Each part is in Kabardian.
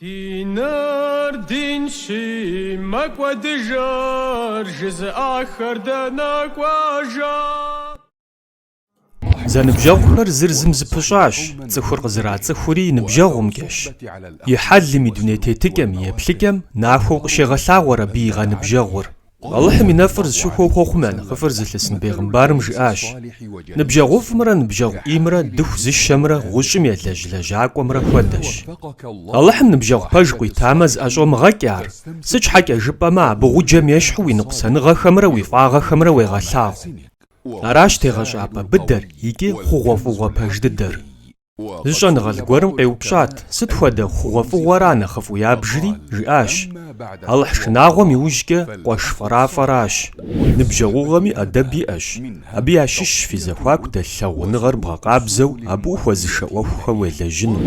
Диныр динщи, мэкӏуэдыжыр жызыӏахэр дэнэ кӏуэжа? Зэныбжьэгъухэр зыр зым зыпыщӏащ, цӏыхур къызэрацӏыхури и ныбжьэгъумкӏэщ. И хьэлым, и дуней тетыкӏэм, и еплъыкӏэм нахуэу къыщегъэлъагъуэр абы и гъэныбжьэгъур. Алыхьым и нэфӏыр зыщыхуэу хъуэхъум я нэхъыфӏыр зылъысын бегъымбарым жиӏащ, Ныбжьэгъуфӏымрэ ныбжьэгъу ӏеймрэ дыху зыщэмрэ гъущӏым елэжь лэжьакӏуэмрэ хуэдэщ. Алыхьым ныбжьэгъу пэж къуитамэ, зыӏэщӏомыгъэкӏ ар, сыт щхьэкӏэ жыпӏэмэ, абы гъуджэм ещхьу уи ныкъусаныгъэхэмрэ уи фӏагъэхэмрэ уегъэлъагъу. Аращ тегъэщӏапӏэ быдэр икӏи хъугъуэфӏыгъуэ пэж дыдэр. Зы щӏэныгъэлӏ гуэрым къеупщӏат, Сыт хуэдэ хъугъуэфӏыгъуэра нэхъыфӏу ябжри? жиӏащ, Алыхь шынагъуэм иужькӏэ къуэш фӏэрафӏэращ. Ныбжьэгъугъэми ӏэдэб иӏэщ. Абы ящыщщ фи зэхуаку дэлъ лъагъуныгъэр бгъэкъабзэу абы ухуэзышэ ӏуэхухэм уелэжьыну.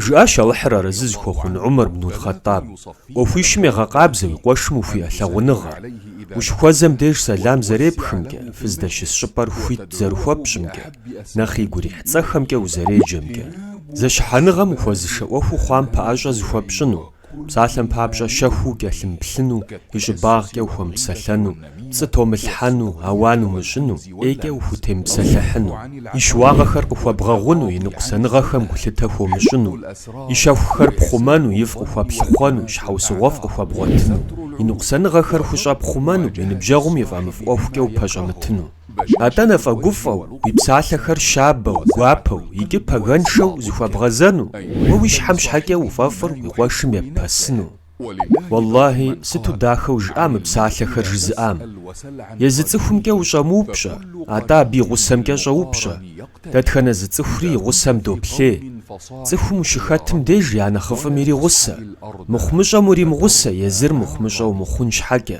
Жиӏащ Алыхьыр арэзы зыхуэхъун Умар бну Аль-Хъаттаб, ӏуэхуищым егъэкъабзэ уи къуэшым ухуиӏэ лъагъуныгъэр. Ущыхуэзэм деж сэлам зэрепхымкӏэ, фыздэщыс щӏыпӏэр хуит зэрыхуэпщӏымкӏэ. Нэхъ игу ирихь цӏэхэмкӏэ узэреджэмкӏэ, зэщыхьэныгъэм ухуэзышэ ӏуэхуу хъуам пэӏэщӏэ зыхуэпщӏыну, псалъэм папщӏэ щэхуу укӏэлъымыплъыну, и щӏыбагъкӏэ ухуэмыпсэлъэну, пцӏы томылъхьэну, ауан умыщӏыну, ӏейкӏэ ухутемыпсэлъыхьыну, и щыуагъэхэр къыхуэбгъэгъуну, и ныкъусаныгъэхэм гулъытэ хуомыщӏыну, и щэхухэр пхъумэну, ифӏ къыхуэплъыхъуэну, щхьэусыгъуэфӏ къыхуэбгъуэтыну, и ныкъусаныгъэхэр хущӏэпхъумэну, и ныбжьэгъум и фӏэмыфӏ ӏуэхукӏэ упэщӏэмытыну. Атӏэ нэфӏэгуфӏэу, уи псалъэхэр щабэу, гуапэу икӏи пэгэншэу зыхуэбгъэзэну, уэ уи щхьэм щхьэкӏэ уфӏэфӏыр уи къуэшым еппэсыну. Уэллахьи, сыту дахэу жиӏа мы псалъэхэр жызыӏам! Езы цӏыхумкӏэ ущӏэмыупщӏэ, атӏэ абы и гъусэмкӏэ щӏэупщӏэ, дэтхэнэ зы цӏыхури и гъусэм доплъей. Цӏыхум ущыхэтым деж я нэхъыфӏым иригъусэ, мыхъумыщӏэм уримыгъусэ езыр мыхъумыщӏэ умыхъун щхьэкӏэ.